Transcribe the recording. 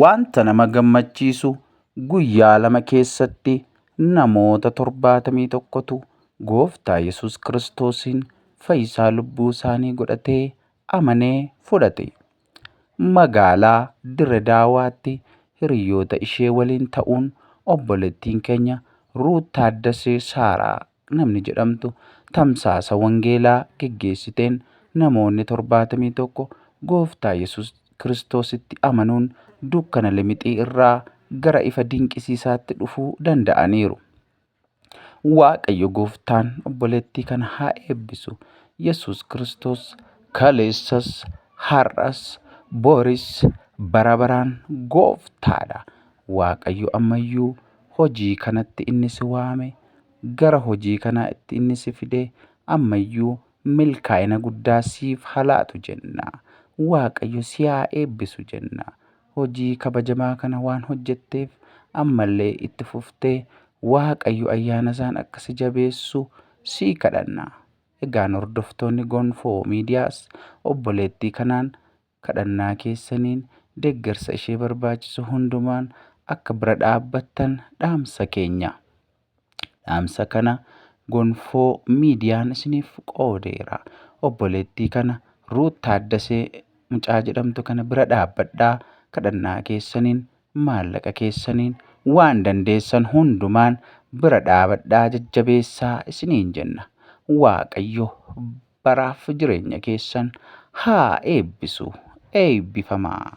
Wanta nama gammachiisu guyyaa lama keessatti namoota 71tu Gooftaa Yesuus Kiristoosiin fayyisaa lubbuu isaanii godhatee amanee fudhate. Magaalaa Dire Daawaatti hiriyoota ishee waliin ta'uun obboleettiin keenya Ruut Taaddasee Saaraa namni jedhamtu tamsaasa wangeelaa geggeessiteen namoonni 71 Gooftaa Yesus Kiristoositti amanuun dukkana limixii irraa gara ifa dinqisiisaatti dhufuu danda'aniiru. Waaqayyo Gooftaan obboleettii kana haa eebbisu. Yesus Kiristoos kaleessas, har'as, boris, bara baraan Gooftaadha. Waaqayyo ammayyuu hojii kanatti inni si waame, gara hojii kanaa itti inni si fide ammayyuu milkaa'ina guddaa siif haa laatu jenna. Waaqayyo si haa eebbisu jenna. Hojii kabajamaa kana waan hojjetteef ammallee itti fuftee Waaqayyo ayyaanasaan akka si jabeessu sii kadhanna. Egaan hordoftoonni Gonfoo Miidiyaas obboleettii kanaan Kadhannaa keessaniin deeggarsa ishee barbaachisu hundumaan akka bira dhaabbattan dhaamsa keenya. Dhaamsa kana Gonfoo Miidiyaan isiniif qoodeera. Obboleettii kana Ruut Taaddasee mucaa jedhamtu kana bira dhaabbadhaa, kadhannaa keessaniin Maallaqa keessaniin, waan dandeessan hundumaan bira dhaabadhaa jajjabeessaa isiniin jenna. Waaqayyo baraaf jireenya keessan haa eebbisu. Eebbifamaa!